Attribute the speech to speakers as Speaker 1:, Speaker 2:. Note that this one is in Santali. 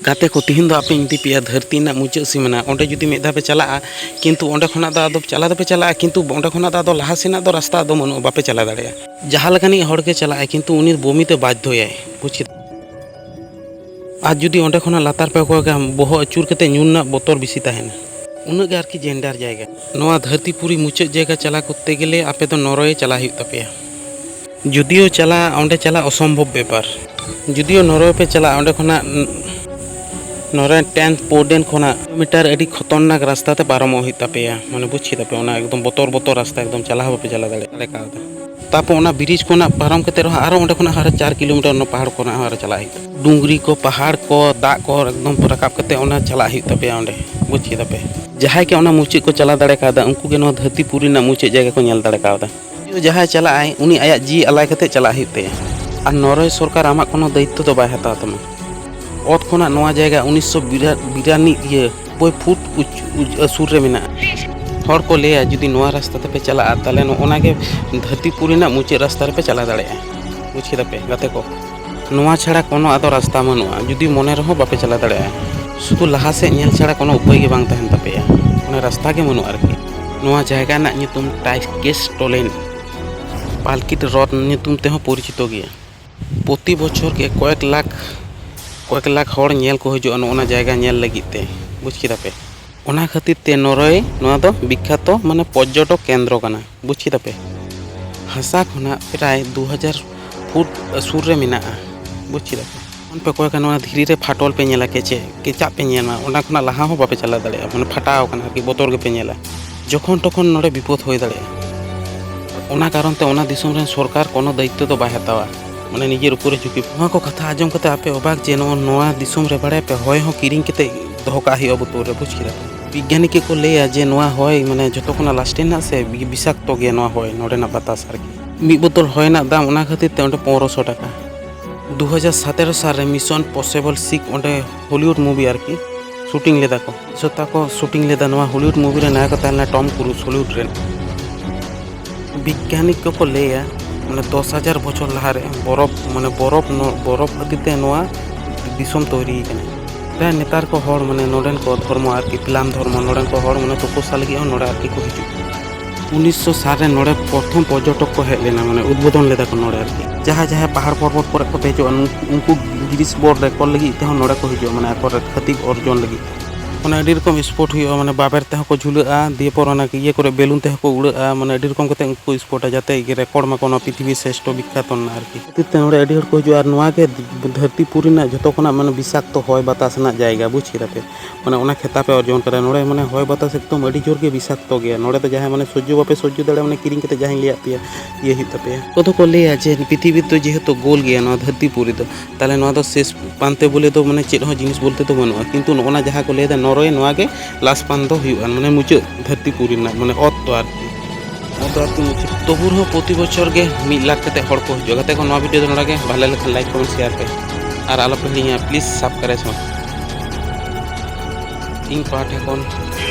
Speaker 1: ᱜᱟᱛᱮ ᱠᱚ ᱛᱤᱦᱤᱧ ᱫᱚ ᱟᱯᱮ ᱤᱫᱤ ᱯᱮᱭᱟ ᱫᱷᱟᱹᱨᱛᱤ ᱨᱮᱱᱟᱜ ᱢᱩᱪᱟᱹᱫ ᱥᱤᱢᱟᱹᱱᱟ ᱚᱸᱰᱮ ᱡᱩᱫᱤ ᱢᱤᱫ ᱫᱷᱟᱣ ᱯᱮ ᱪᱟᱞᱟᱜᱼᱟ ᱠᱤᱱᱛᱩ ᱚᱸᱰᱮ ᱠᱷᱚᱱᱟᱜ ᱫᱚ ᱟᱫᱚ ᱪᱟᱞᱟᱣ ᱫᱚᱯᱮ ᱪᱟᱞᱟᱜᱼᱟ ᱠᱤᱱᱛᱩ ᱚᱸᱰᱮ ᱠᱷᱚᱱᱟᱜ ᱫᱚ ᱟᱫᱚ ᱞᱟᱦᱟ ᱥᱮᱱᱟᱜ ᱫᱚ ᱨᱟᱥᱛᱟ ᱟᱫᱚ ᱵᱟᱹᱱᱩᱜᱼᱟ ᱵᱟᱯᱮ ᱪᱟᱞᱟᱣ ᱫᱟᱲᱮᱭᱟᱜᱼᱟ ᱡᱟᱦᱟᱸ ᱞᱮᱠᱟᱱᱤᱡ ᱦᱚᱲ ᱜᱮ ᱪᱟᱞᱟᱜᱼᱟᱭ ᱠᱤᱱᱛᱩ ᱩᱱᱤ ᱵᱚᱢᱤ ᱛᱮ ᱵᱟᱫᱽᱫᱷᱚᱭᱟᱭ ᱵᱩᱡᱽ ᱠᱮᱫᱟᱢ ᱟᱨ ᱡᱩᱫᱤ ᱚᱸᱰᱮ ᱠᱷᱚᱱᱟᱜ ᱞᱟᱛᱟᱨ ᱯᱮ ᱠᱚᱭᱚᱜᱟ ᱵᱚᱦᱚᱜ ᱟᱹᱪᱩᱨ ᱠᱟᱛᱮ ᱧᱩᱨ ᱨᱮᱱᱟᱜ ᱵᱚᱛᱚᱨ ᱵᱮᱥᱤ ᱛᱟᱦᱮᱱᱟ ᱩᱱᱟᱹᱜ ᱜᱮ ᱟᱨᱠᱤ ᱡᱮᱱᱰᱟᱨ ᱡᱟᱭᱜᱟ ᱱᱚᱣᱟ ᱫᱷᱟᱹᱨᱛᱤ ᱯᱩᱨᱤ ᱢᱩᱪᱟᱹᱫ ᱡᱟᱭᱜᱟ ᱪᱟᱞᱟᱣ ᱠᱚᱨᱛᱮ ᱜᱮᱞᱮ ᱟᱯᱮ ᱫᱚ ᱱᱚᱨᱳᱭᱮ ᱪᱟᱞᱟᱜ ᱦᱩᱭᱩᱜ ᱛᱟᱯᱮᱭᱟ ᱡᱩᱫᱤᱭᱳ ᱪᱟᱞᱟᱜ ᱚᱸᱰᱮ ᱪᱟᱞᱟᱜ ᱚᱥᱚᱢᱵᱷᱚᱵ ᱵᱮᱯᱟᱨ ᱡᱩᱫᱤᱭᱳ ᱱᱚᱨᱣᱮ ᱯᱮ ᱪᱟᱞᱟᱜ ᱚᱸᱰᱮ ᱠᱷᱚᱱᱟᱜ ᱱᱚᱨᱣᱮ ᱴᱮᱱᱛᱷ ᱯᱳᱨᱰᱮᱱ ᱠᱷᱚᱱᱟᱜ ᱢᱤᱴᱟᱨ ᱟᱹᱰᱤ ᱠᱷᱚᱛᱚᱨᱱᱟᱠ ᱨᱟᱥᱛᱟ ᱛᱮ ᱯᱟᱨᱚᱢᱚᱜ ᱦᱩᱭᱩᱜ ᱛᱟᱯᱮᱭᱟ ᱢᱟᱱᱮ ᱵᱩᱡᱽ ᱠᱮᱫᱟ ᱯᱮ ᱚᱱᱟ ᱮᱠᱫᱚᱢ ᱵᱚᱛᱚᱨ ᱵᱚᱛᱚᱨ ᱨᱟᱥᱛᱟ ᱮᱠᱫᱚᱢ ᱪᱟᱞᱟᱣ ᱦᱚᱸ ᱵᱟᱯᱮ ᱪᱟᱞᱟᱣ ᱫᱟᱲᱮᱭᱟᱜᱼᱟ ᱠᱟᱣᱫᱟ ᱛᱟᱨᱯᱚᱨ ᱚᱱᱟ ᱵᱨᱤᱡᱽ ᱠᱷᱚᱱᱟᱜ ᱯᱟᱨᱚᱢ ᱠᱟᱛᱮ ᱨᱮᱦᱚᱸ ᱟᱨᱚ ᱚᱸᱰᱮ ᱠᱷᱚᱱᱟᱜ ᱟᱨᱚ ᱪᱟᱨ ᱠᱤᱞᱳᱢᱤᱴᱟᱨ ᱚᱱᱟ ᱯᱟᱦᱟᱲ ᱠᱷᱚᱱᱟᱜ ᱦᱚᱸ ᱟᱨᱚ ᱪᱟᱞᱟᱜ ᱦᱩᱭᱩᱜ ᱛᱟᱯᱮᱭᱟ ᱰᱩᱝᱨᱤ ᱠᱚ ᱯᱟᱦᱟᱲ ᱠᱚ ᱫᱟᱜ ᱠᱚ ᱮᱠᱫᱚᱢ ᱨᱟᱠᱟᱵ ᱠᱟᱛᱮ ᱚᱱᱟ ᱪᱟᱞᱟᱜ ᱦᱩᱭᱩᱜ ᱛᱟᱯᱮᱭᱟ ᱚᱸᱰᱮ ᱵᱩᱡᱽ ᱠᱮᱫᱟ ᱯᱮ ᱡᱟᱦᱟᱸᱭ ᱜᱮ ᱚᱱᱟ ᱢᱩᱪᱟᱹᱫ ᱠᱚ ᱪᱟᱞᱟᱣ ᱫᱟᱲᱮ ᱠᱟᱣᱫᱟ ᱩᱱᱠᱩ ᱜᱮ ᱱᱚᱣᱟ ᱫᱷᱟᱹᱨᱛᱤ ᱯᱩᱨᱤ ᱨᱮᱱᱟᱜ ᱢᱩᱪᱟᱹᱫ ᱡᱟᱭᱜᱟ ᱠᱚ ᱧᱮᱞ ᱫᱟᱲᱮ ᱠᱟᱣᱫᱟ ᱡᱟᱦᱟᱸᱭ ᱪᱟᱞᱟᱜ ᱟᱭ ᱩᱱᱤ ᱟᱭᱟᱜ ᱡᱤᱣᱤ ᱟᱞᱟᱭ ᱠᱟᱛᱮ ᱪᱟᱞᱟᱜ ᱦᱩᱭᱩᱜ ᱛᱟᱭᱟ ᱟᱨ ᱱᱚᱨᱣᱮ ᱥᱚᱨᱠᱟᱨ ᱟᱢᱟᱜ ᱠᱳᱱᱳ ᱫᱟᱭᱤᱛᱛᱚ ᱫᱚ ᱵᱟᱭ ᱦᱟᱛᱟᱣ ᱛᱟᱢᱟ ᱚᱛ ᱠᱷᱚᱱᱟᱜ ᱱᱚᱣᱟ ᱡᱟᱭᱜᱟ ᱩᱱᱤᱥᱥᱚ ᱵᱤᱨᱟᱱᱤ ᱤᱭᱟᱹ ᱵᱳᱭ ᱯᱷᱩᱴ ᱥᱩᱨ ᱨᱮ ᱢᱮᱱᱟᱜᱼᱟ ᱦᱚᱲ ᱠᱚ ᱞᱟᱹᱭᱟ ᱡᱩᱫᱤ ᱱᱚᱣᱟ ᱨᱟᱥᱛᱟ ᱛᱮᱯᱮ ᱪᱟᱞᱟᱜᱼᱟ ᱛᱟᱦᱚᱞᱮ ᱱᱚᱜᱼᱚ ᱱᱟ ᱜᱮ ᱫᱷᱟᱹᱨᱛᱤᱯᱩᱨᱤ ᱨᱮᱱᱟᱜ ᱢᱩᱪᱟᱹᱫ ᱨᱟᱥᱛᱟ ᱨᱮᱯᱮ ᱪᱟᱞᱟᱣ ᱫᱟᱲᱮᱭᱟᱜᱼᱟ ᱵᱩᱡᱽ ᱠᱮᱫᱟ ᱯᱮ ᱜᱟᱛᱮ ᱠᱚ ᱱᱚᱣᱟ ᱪᱷᱟᱲᱟ ᱠᱳᱱᱳ ᱟᱫᱚ ᱨᱟᱥᱛᱟ ᱵᱟᱹᱱᱩᱜᱼᱟ ᱡᱩᱫᱤ ᱢᱚᱱᱮ ᱨᱮᱦᱚᱸ ᱵᱟᱯᱮ ᱪᱟᱞᱟᱣ ᱫᱟᱲᱮᱭᱟᱜᱼᱟ ᱥᱩᱫᱷᱩ ᱞᱟᱦᱟ ᱥᱮᱫ ᱧᱮᱞ ᱪᱷᱟᱲᱟ ᱠᱳᱱᱳ ᱩᱯᱟᱹᱭ ᱜᱮ ᱵᱟᱝ ᱛᱟᱦᱮᱱ ᱛᱟᱯᱮᱭᱟ ᱚᱱᱟ ᱨᱟᱥᱛᱟ ᱜᱮ ᱵᱟᱹᱱᱩᱜᱼᱟ ᱟᱨᱠᱤ ᱱᱚᱣᱟ ᱡᱟᱭᱜᱟ ᱨᱮᱱᱟᱜ ᱧᱩᱛᱩᱢ ᱴᱟᱭᱠᱮᱥ ᱴᱚᱞᱮᱱ ᱯᱟᱞᱠᱤᱴ ᱨᱚᱛᱷ ᱧᱩᱛᱩᱢ ᱛᱮᱦᱚᱸ ᱯᱚᱨᱤᱪᱤᱛᱚ ᱜᱮᱭᱟ ᱯᱨᱚᱛᱤ ᱵᱚᱪᱷᱚᱨ ᱜᱮ ᱠᱚᱭᱮᱠ ᱞᱟᱠᱷ ᱠᱚᱭᱮᱠ ᱞᱟᱠᱷ ᱦᱚᱲ ᱧᱮᱞ ᱠᱚ ᱦᱤᱡᱩᱜᱼᱟ ᱱᱚᱜᱼᱚ ᱱᱚᱣᱟ ᱡᱟᱭᱜᱟ ᱧᱮᱞ ᱞᱟᱹᱜᱤᱫ ᱛᱮ ᱵᱩᱡᱽ ᱠᱮᱫᱟ ᱯᱮ ᱚᱱᱟ ᱠᱷᱟᱹᱛᱤᱨ ᱛᱮ ᱱᱚᱨᱚᱭᱮ ᱱᱚᱣᱟ ᱫᱚ ᱵᱤᱠᱠᱷᱟᱛᱚ ᱢᱟᱱᱮ ᱯᱚᱨᱡᱚᱴᱚᱠ ᱠᱮᱱᱫᱨᱚ ᱠᱟᱱᱟ ᱵᱩᱡᱽ ᱠᱮᱫᱟ ᱯᱮ ᱦᱟᱥᱟ ᱠᱷᱚᱱᱟᱜ ᱯᱨᱟᱭ ᱫᱩ ᱦᱟᱡᱟᱨ ᱯᱷᱩᱴ ᱥᱩᱨ ᱨᱮ ᱢᱮᱱᱟᱜᱼᱟ ᱵᱩᱡᱽ ᱠᱮᱫᱟ ᱯᱮ ᱡᱚᱠᱷᱚᱱ ᱯᱮ ᱠᱚᱭᱚᱜᱟ ᱱᱚᱣᱟ ᱫᱷᱤᱨᱤ ᱨᱮ ᱯᱷᱟᱴᱚᱞ ᱯᱮ ᱧᱮᱞᱟ ᱠᱮᱪᱮ ᱠᱮᱪᱟᱜ ᱯᱮ ᱧᱮᱞᱟ ᱚᱱᱟ ᱠᱷᱚᱱᱟᱜ ᱞᱟᱦᱟ ᱦᱚᱸ ᱵᱟᱯᱮ ᱪᱟᱞᱟᱣ ᱫᱟᱲᱮᱭᱟᱜᱼᱟ ᱢᱟᱱᱮ ᱯᱷᱟᱴᱟᱣ ᱠᱟᱱᱟ ᱟᱨᱠᱤ ᱵᱚᱛᱚᱨ ᱜᱮᱯᱮ ᱧᱮᱞᱟ ᱡᱚᱠᱷᱚᱱ ᱛᱚᱠᱷᱚᱱ ᱱᱚᱰᱮ ᱵᱤᱯᱚᱫ ᱦᱩᱭ ᱫᱟᱲᱮᱭᱟᱜᱼᱟ ᱚᱱᱟ ᱠᱟᱨᱚᱱ ᱛᱮ ᱚᱱᱟ ᱫᱤᱥᱚᱢ ᱨᱮᱱ ᱥᱚᱨᱠᱟᱨ ᱠᱳᱱᱳ ᱫᱟᱭᱤᱛᱛᱚ ᱫᱚ ᱵᱟᱭ ᱦᱟᱛᱟᱣᱟ ᱢᱟᱱᱮ ᱱᱤᱡᱮᱨ ᱩᱯᱚᱨᱮ ᱡᱷᱩᱠᱤ ᱱᱚᱣᱟ ᱠᱚ ᱠᱟᱛᱷᱟ ᱟᱸᱡᱚᱢ ᱠᱟᱛᱮ ᱟᱯᱮ ᱚᱵᱟᱠ ᱡᱮ ᱱᱚᱣᱟ ᱫᱤᱥᱚᱢ ᱨᱮ ᱵᱟᱲᱟᱭᱟᱯᱮ ᱦᱚᱭ ᱦᱚᱸ ᱠᱤᱨᱤᱧ ᱠᱟᱛᱮ ᱫᱚᱦᱚ ᱠᱟᱜ ᱦᱩᱭᱩᱜᱼᱟ ᱵᱳᱛᱚᱞ ᱨᱮ ᱵᱩᱡᱽ ᱠᱮᱫᱟ ᱵᱤᱜᱽᱜᱟᱱᱤ ᱠᱚᱠᱚ ᱞᱟᱹᱭᱟ ᱡᱮ ᱱᱚᱣᱟ ᱦᱚᱭ ᱢᱟᱱᱮ ᱡᱚᱛᱚ ᱠᱷᱚᱱᱟᱜ ᱞᱟᱥᱴᱤᱝ ᱨᱮᱱᱟᱜ ᱥᱮ ᱵᱤᱥᱟᱠᱛᱚ ᱜᱮᱭᱟ ᱱᱚᱣᱟ ᱦᱚᱭ ᱱᱚᱰᱮᱱᱟᱜ ᱵᱟᱛᱟᱥ ᱟᱨᱠᱤ ᱢᱤᱫ ᱵᱳᱛᱚᱞ ᱦᱚᱭ ᱨᱮᱱᱟᱜ ᱫᱟᱢ ᱚᱱᱟ ᱠᱷᱟᱹᱛᱤᱨ ᱛᱮ ᱚᱸᱰᱮ ᱯᱚᱱᱨᱚᱥᱚ ᱴᱟᱠᱟ ᱫᱩ ᱦᱟᱡᱟᱨ ᱥᱟᱛᱮᱨᱚ ᱥᱟᱞ ᱨᱮ ᱢᱤᱥᱚᱱ ᱯᱚᱥᱮᱵᱚᱞ ᱥᱤᱠ ᱚᱸᱰᱮ ᱦᱚᱞᱤᱣᱩᱰ ᱢᱩᱵᱷᱤ ᱟᱨᱠᱤ ᱥᱩᱴᱤᱝ ᱞᱮᱫᱟ ᱠᱚ ᱡᱚᱛᱟ ᱠᱚ ᱥᱩᱴᱤᱝ ᱞᱮᱫᱟ ᱱᱚᱣᱟ ᱦᱚᱞᱤᱣᱩᱰ ᱢᱩᱵᱷᱤ ᱨᱮ ᱱᱟᱭᱚᱠ ᱛᱟᱦᱮᱸ ᱞᱮᱱᱟ ᱴᱚᱢ ᱠᱨᱩᱡᱽ ᱦᱚᱞᱤᱣᱩᱰ ᱨᱮᱱ ᱵᱤᱜᱽᱜᱟᱱᱤ ᱠᱚᱠᱚ ᱞᱟᱹᱭᱟ ᱢᱟᱱᱮ ᱫᱚᱥ ᱦᱟᱡᱟᱨ ᱵᱚᱪᱷᱚᱨ ᱞᱟᱦᱟᱨᱮ ᱵᱚᱨᱚᱯᱷ ᱢᱟᱱᱮ ᱵᱚᱨᱚᱯᱷ ᱵᱚᱨᱚᱯᱷ ᱠᱷᱟᱹᱛᱤᱨ ᱛᱮ ᱱᱚᱣᱟ ᱫᱤᱥᱚᱢ ᱛᱳᱭᱨᱤ ᱟᱠᱟᱱᱟ ᱦᱮᱸ ᱱᱮᱛᱟᱨ ᱠᱚ ᱦᱚᱲ ᱢᱟᱱᱮ ᱱᱚᱰᱮᱱ ᱠᱚ ᱫᱷᱚᱨᱢᱚ ᱟᱨᱠᱤ ᱯᱷᱤᱞᱟᱢ ᱫᱷᱚᱨᱢᱚ ᱱᱚᱰᱮᱱ ᱠᱚ ᱦᱚᱲ ᱢᱟᱱᱮ ᱛᱩᱯᱩᱥᱟ ᱞᱟᱹᱜᱤᱫ ᱦᱚᱸ ᱱᱚᱰᱮ ᱟᱨᱠᱤ ᱠᱚ ᱦᱤᱡᱩᱜ ᱠᱟᱱᱟ ᱩᱱᱤᱥᱥᱚ ᱥᱟᱞ ᱨᱮ ᱱᱚᱰᱮ ᱯᱨᱚᱛᱷᱚᱢ ᱯᱚᱨᱡᱚᱴᱚᱠ ᱠᱚ ᱦᱮᱡ ᱞᱮᱱᱟ ᱢᱟᱱᱮ ᱩᱫᱽᱵᱳᱫᱚᱱ ᱞᱮᱫᱟ ᱠᱚ ᱱᱚᱰᱮ ᱟᱨᱠᱤ ᱡᱟᱦᱟᱸ ᱡᱟᱦᱟᱸ ᱯᱟᱦᱟᱲ ᱯᱚᱨᱵᱚᱛ ᱠᱚᱨᱮ ᱠᱚ ᱫᱮᱡᱚᱜᱼᱟ ᱩᱱᱠᱩ ᱜᱤᱨᱤᱥ ᱵᱳᱨᱰ ᱨᱮᱠᱚᱨ ᱞᱟᱹᱜᱤᱫ ᱛᱮᱦᱚᱸ ᱱᱚᱰᱮ ᱠᱚ ᱦᱤᱡᱩᱜᱼᱟ ᱢᱟᱱᱮ ᱟᱠᱚ ᱠᱷᱟᱹᱛᱤᱠ ᱚᱨᱡᱚᱱ ᱞᱟᱹᱜᱤᱫ ᱢᱟᱱᱮ ᱟᱹᱰᱤ ᱨᱚᱠᱚᱢ ᱥᱯᱳᱨᱴ ᱦᱩᱭᱩᱜᱼᱟ ᱢᱟᱱᱮ ᱵᱟᱵᱮᱨ ᱛᱮᱦᱚᱸ ᱠᱚ ᱡᱷᱩᱞᱟᱹᱜᱼᱟ ᱫᱤᱭᱮ ᱯᱚᱨ ᱚᱱᱟ ᱤᱭᱟᱹ ᱠᱚᱨᱮ ᱵᱮᱞᱩᱱ ᱛᱮᱦᱚᱸ ᱠᱚ ᱩᱲᱟᱹᱜᱼᱟ ᱢᱟᱱᱮ ᱟᱹᱰᱤ ᱨᱚᱠᱚᱢ ᱠᱟᱛᱮ ᱩᱱᱠᱩ ᱥᱯᱳᱨᱴᱟ ᱡᱟᱛᱮ ᱨᱮᱠᱚᱨᱰ ᱢᱟᱠᱚ ᱱᱚᱣᱟ ᱯᱨᱤᱛᱷᱤᱵᱤ ᱥᱨᱮᱥᱴᱷᱚ ᱵᱤᱠᱠᱷᱟᱛᱚ ᱨᱮᱱᱟᱜ ᱟᱨᱠᱤ ᱠᱷᱟᱹᱛᱤᱨ ᱛᱮ ᱱᱚᱰᱮ ᱟᱹᱰᱤ ᱦᱚᱲ ᱠᱚ ᱦᱤᱡᱩᱜᱼᱟ ᱟᱨ ᱱᱚᱣᱟ ᱜᱮ ᱫᱷᱟᱹᱨᱛᱤ ᱯᱩᱨᱤ ᱨᱮᱱᱟᱜ ᱡᱚᱛᱚ ᱠᱷᱚᱱᱟᱜ ᱢᱟᱱᱮ ᱵᱤᱥᱟᱠᱛᱚ ᱦᱚᱭ ᱵᱟᱛᱟᱥ ᱨᱮᱱᱟᱜ ᱡᱟᱭᱜᱟ ᱵᱩᱡᱽ ᱠᱮᱫᱟ ᱯᱮ ᱢᱟᱱᱮ ᱚᱱᱟ ᱠᱷᱮᱛᱟᱵ ᱮ ᱚᱨᱡᱚᱱ ᱠᱟᱫᱟ ᱱᱚᱰᱮ ᱢᱟᱱᱮ ᱦᱚᱭ ᱵᱟᱛᱟᱥ ᱮᱠᱫᱚᱢ ᱟᱹᱰᱤ ᱡᱳᱨ ᱜᱮ ᱵᱤᱥᱟᱠᱛᱚ ᱜᱮᱭᱟ ᱱᱚᱰᱮ ᱫᱚ ᱡᱟᱦᱟᱸᱭ ᱢᱟᱱᱮ ᱥᱚᱡᱽᱡᱚ ᱵᱟᱯᱮ ᱥᱚᱡᱽᱡᱚ ᱫᱟᱲᱮᱭᱟᱜᱼᱟ ᱢᱟᱱᱮ ᱠᱤᱨᱤᱧ ᱠᱟᱛᱮ ᱡᱟᱦᱟᱸᱧ ᱞᱟᱹᱭᱟᱫ ᱯᱮᱭᱟ ᱤᱭᱟᱹ ᱦᱩᱭᱩᱜ ᱛᱟᱯᱮᱭᱟ ᱠᱚ ᱫᱚᱠᱚ ᱞᱟᱹᱭᱟ ᱡᱮ ᱯᱨᱤᱛᱷᱤᱵᱤ ᱫᱚ ᱡᱮᱦᱮᱛᱩ ᱜᱳᱞ ᱜᱮᱭᱟ ᱱᱚᱣᱟ ᱫᱷᱟᱹᱨᱛᱤ ᱯᱩᱨᱤ ᱫᱚ ᱛᱟᱦᱚᱞᱮ ᱱᱚᱣᱟ ᱫᱚ ᱥᱮᱥ ᱯᱟᱱᱛᱮ ᱵᱚᱞᱮ ᱫᱚ ᱢᱟᱱᱮ ᱪᱮᱫ ᱦᱚᱸ ᱡᱤᱱᱤᱥ ᱵᱚᱞᱛᱮ ᱫᱚ ᱵᱟᱹᱱᱩᱜᱼᱟ ᱠᱤᱱᱛᱩ ᱱᱚᱜᱼᱚᱱᱟ ᱡᱟᱦᱟᱸ ᱠᱚ ᱞᱟᱹᱭᱫᱟ ᱱᱚᱨᱚᱭᱮ ᱱᱚᱣᱟ ᱜᱮ ᱞᱟᱥ ᱯᱟᱱ ᱫᱚ ᱦᱩᱭᱩᱜᱼᱟ ᱢᱟᱱᱮ ᱢᱩᱪᱟᱹᱫ ᱫᱷᱟᱹᱨᱛᱤ ᱯᱩᱨᱤ ᱨᱮᱱᱟᱜ ᱢᱟᱱᱮ ᱚᱛ ᱫᱚ ᱟᱨᱠᱤ ᱟᱹᱛᱩ ᱢᱩᱪᱟᱹᱫ ᱛᱚᱵᱩ ᱨᱮᱦᱚᱸ ᱯᱨᱚᱛᱤ ᱵᱚᱪᱷᱚᱨ ᱜᱮ ᱢᱤᱫ ᱞᱟᱠᱷ ᱠᱟᱛᱮ ᱦᱚᱲ ᱠᱚ ᱦᱤᱡᱩᱜᱼᱟ ᱜᱟᱛᱮ ᱠᱚ ᱱᱚᱣᱟ ᱵᱷᱤᱰᱤᱭᱳ ᱫᱚ ᱱᱚᱰᱮ ᱜᱮ ᱵᱷᱟᱞᱮ ᱞᱮᱠᱷᱟᱱ ᱞᱟᱭᱤᱠ ᱠᱚᱢᱮᱱᱴ ᱥᱮᱭᱟᱨ ᱯᱮ ᱟᱨ ᱟᱞᱚᱯᱮ ᱦᱤᱲᱤᱧᱟ ᱯᱞᱤᱡᱽ ᱥᱟᱵᱥᱠᱨᱟᱭᱤᱵᱽ ᱤᱧ ᱯᱟᱦᱴᱟ ᱠᱷᱚᱱ